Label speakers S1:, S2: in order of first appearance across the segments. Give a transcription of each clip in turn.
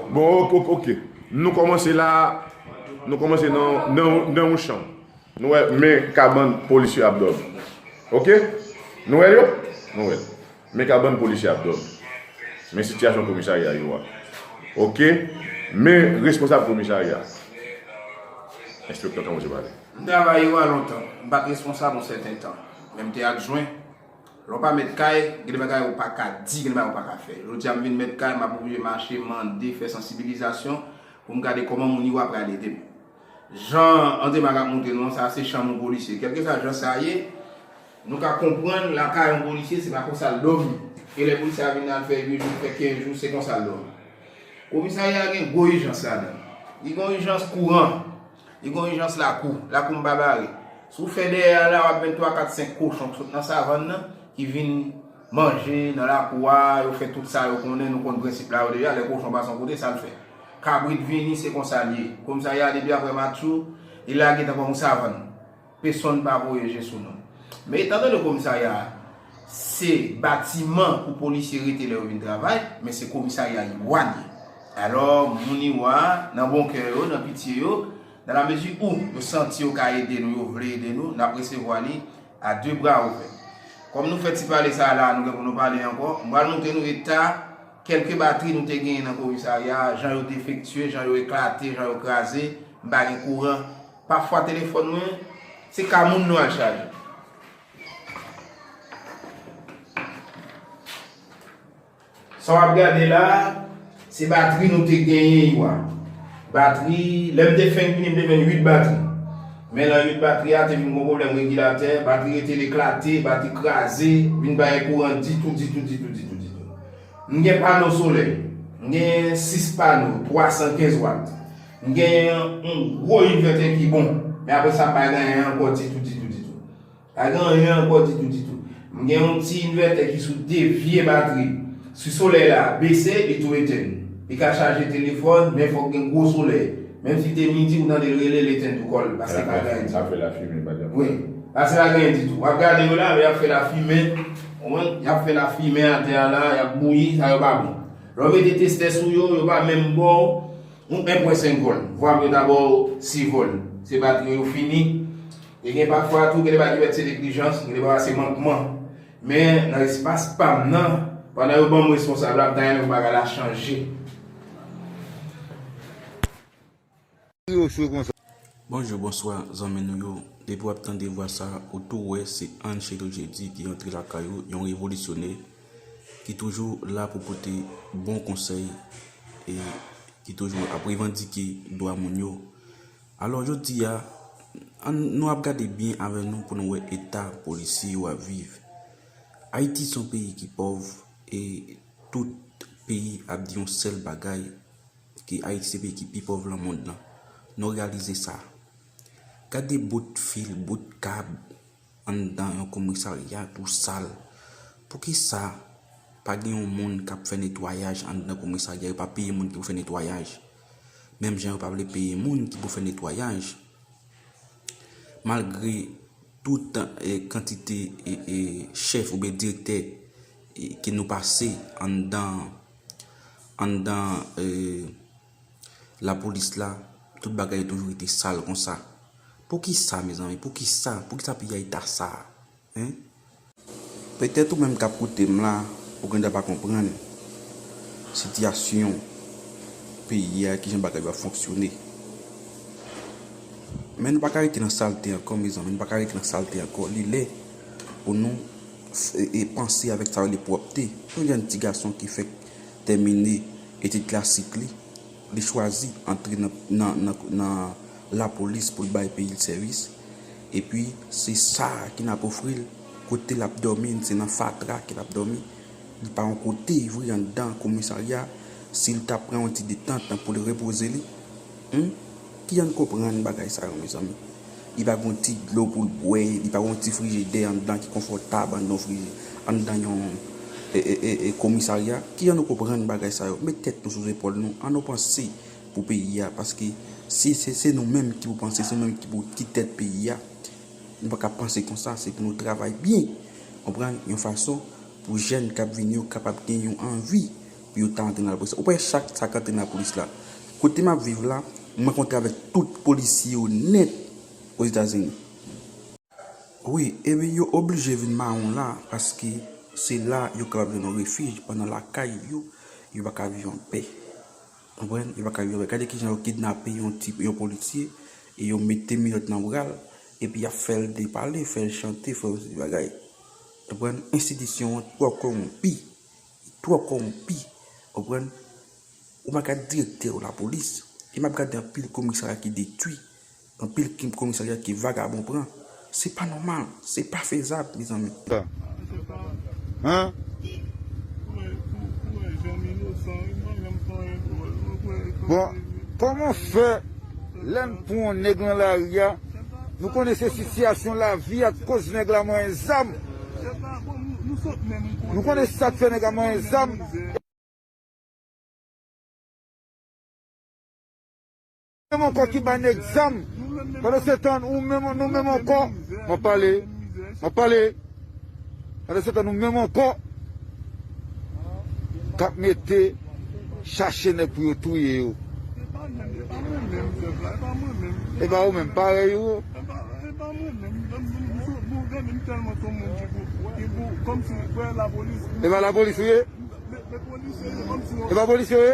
S1: Bon ok ok ok Nou komanse la Nou komanse nan yon chan Nou wè men kabann polis yo ap dòmi Ok Nou wè yo Nou wè Men kabann polis yo ap dòmi Men sityasyon komisarya yo a Ok Men responsab komisarya Enspektè tanpri se pa li M travay yo a
S2: lontan M pa t responsab yon sèten tan Men m te adjwen Lè w pa mèt kay, gen de bagay ou pa ka di, gen de bagay ou pa ka fè. Jodi a m vin mèt kay, m ap oblije mache, mande, fè sansibilizasyon pou m gade kòman moun yo a pral ede m. Jan André Marc ap montre nou an, sa a se chanm yon polisye. Kèlkeswa jan sa ye, nou ka konprann lakay yon polisye se pa konsa l dòmi. E lè polisye a vin nan, l fè 8 jou, l fè 15 jou, se konsa l dòmi. Komisarya a gen gwo ijans ladan l. Li gen yon ijans kouran. Li gon ijans lakou. Lakou m pa bare. Si w fè dèyè a la, w ap jwenn twa, kat, senk kochon k sot nan savann nan ki vin manje nan lakou a, yo fè tout sa yo konnen, nou konn prensip la yo deja, lè kochon pase yon kote, sa l fè? Kabrit vini, se konsa l ye. Komisarya a depi aprè matchou, li lage tankou yon savann. Pesonn pa voye je sou nou. Men etan done komisarya a se batiman pou polisye rete lè yo vin travay, men se komisarya Iwa li ye. Alò, moun Iwa, nan bon kè yo, nan pitye yo, dan la mezi ou yo santi yo ka ede nou, yo vle ede nou, n ap resevwa li a de bra ouvè. Kòm nou fè ti pale sa a la a, nou gen pou nou pale ankò. M pral montre nou eta kèlke batri nou te genyen nan komisarya a, jan yo defektye, jan yo eklate, jan yo kraze, m pa gen kouran. Pafwa telefòn mwen se ka moun nou al chaje. Sa wap gade la se batri nou te genyen yo a. Batri, lèm te fenk vini m te jwenn 8 batri. Men lan 8 batri a te vin gon pwoblèm regilatè, batri rete l eklate, batri kraze, vin pa gen kouran ditou ditou ditou ditou ditou. M gen pano solèy, m gen 6 pano 315 wat. M genyen yon gwo inverter ki bon, men apre sa m pa gen anyen ankò ditou ditou ditou. Pa gen anyen ankò ditou ditou. M gen yon ti inverter ki sou 2 vye batri. Si solèy la bese, li tou etenn. Li ka chaje telefòn, men fòk gen gwo solèy. Menm si l te midi ou tande l rele, l etenn tou kò l, paske pa gen anyen ditou. L ap fè lafimen pa janm
S1: fè. Paske pa gen
S2: anyen ditou. W ap gade yo la, lè y ap fè lafimen, konprann, y ap fè lafimen atè a la, y ap bouyi, sa yo pa bon. Lè w mete testè sou yo, yo pa menm bon. Yon 1 pwen 5 vòl. Vwa m yo dabò si vòl. Se batri yo fini. E gen pafwa tou gen de bagay ki pèt se neglijans, gen de bagay se mankman. Men nan espas pa m nan, pandan yo ban m responsab la, m ta renmen pou bagay la chanje.
S3: Bonjou bonswa zanmi nou yo depi wap tande vwa sa ou tou wè se Angelo Jeudy ki antre lakay ou yon revolisyonè ki toujou la pou pote bon konsèy e ki toujou ap revandike dwa moun yo alò jodi a an nou ap gade byen avè nou pou nou wè eta polisye yo ap viv Ayiti son peyi ki pòv e tout peyi ap di yon sèl bagay Ke Ayiti se peyi ki pi pòv lan mond lan. Nou reyalize sa. Gade bout fil, bout kab anndan yon komisarya tou sal. Poukisa pa gen yon moun k ap fè netwayaj anndan komisarya? Yo pa peye moun ki pou fè netwayaj. Menm jan yo pa vle peye moun ki pou fè netwayaj. Malgre tout kantite chèf oube direktè ke nou pase anndan. Anndan lapolis la, tout bagay toujou rete sal konsa. Poukisa mezanmi? Poukisa? Poukisa peyi a eta sa a? Hein? Petèt ou menm k ap koute m la, ou gendwa pa konprann sitiyasyon peyi a, kijan bagay yo ap fonksyone. Men nou pa ka rete nan salte ankò mezanmi, nou pa ka rete nan salte ankò. Li lè pou nou. e panse avèk sa yo rele pwòpte. Yon jèn ti gason ki fèk tèmine etid klasik li, li chwazi antre nan lapolis pou l bay peyi l sèvis, epi se sa ki nan ofri l kote l ap dòmi, se nan fatra ke l ap dòmi, li pa yon kote vre anndan komisarya, si l ta pran yon ti detant pou l repoze li. Humm kijan konprann bagay sa yo mezanmi li pa gen yon ti dlo poul bwè li pa gen yon ti frijidè anndan ki konfòtab anndan yon friji anndan yon ee komisarya kijan nou konprann bagay sa yo met tèt nou sou zepòl nou annou panse pou peyi a paske si se nou menm ki pou panse se nou menm ki pou ki tèt peyi a nou paka panse konsa se pou nou travay byen konprann yon fason pou jèn kap vini yo kapab gen yon anvi Yo ta antre nan lapolis la. Ou pa wè chak sa k antre nan lapolis la. Kote m ap viv la, mwen kontre avèk tout polisye yo nèt Ozetazini. Wi, ebyen yo oblije vin mawon la paske se la yo kapab jwenn yon refij pandan lakay yo, yo pa ka viv an pè. Konprann? Yo pa ka viv an pè. Gade ki jan yo kidnape yon ti, yon polisye e yo mete minòt nan bra l epi y ap fè l depale, fè l chante, fè l yon seri de bagay. Konprann? Enstitisyon an twò kowonpi. Li twò kòwonpi, ou konprann. Ou pa ka direktè yon lapolis. E m ap gade anpil komisarya ki detwi, anpil komisarya ke vagabon pran. Se pa nòmal, se pa fezab, mezanmi.
S4: Bon, kòman fè. Lè n pran yon nèg lan lari a, nou konnen se sitiyasyon lavi a k koz nèg la manyen zam. Nou konnen sa k fè nèg la manyen zam. Ou menm ankò ki bay nèg zam, pandansetan ou menm, nou menm ankò. M ap pale, m ap pale. Pandan se tan nou menm ankò kap mete chache nèg pou yo touye yo. E pa ou menm parèy ou. E pa lapolis ou ye. E pa polis ou ye.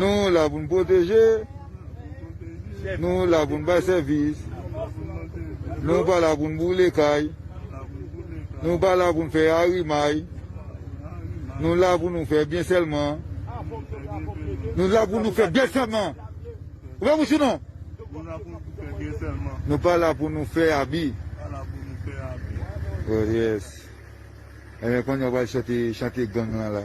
S4: Nou la pou n pwoteje, nou la pou n bay sèvis, nou pa la pou n boule kay, nou pa la pou n fè arimay, nou la pou nou fè byen sèlman, nou la pou nou fè byen sèlman, nou pa la pou nou fè abi. Oh yes, enben konnye a w pral chante chante gang lan la.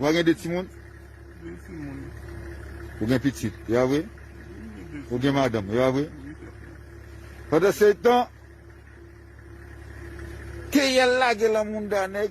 S4: Wa gen 2 timoun? Ou gen pitit, ya vre? Ou gen madanm, ya vre? Pandan se tan, keyèl lage lan mounda nèg.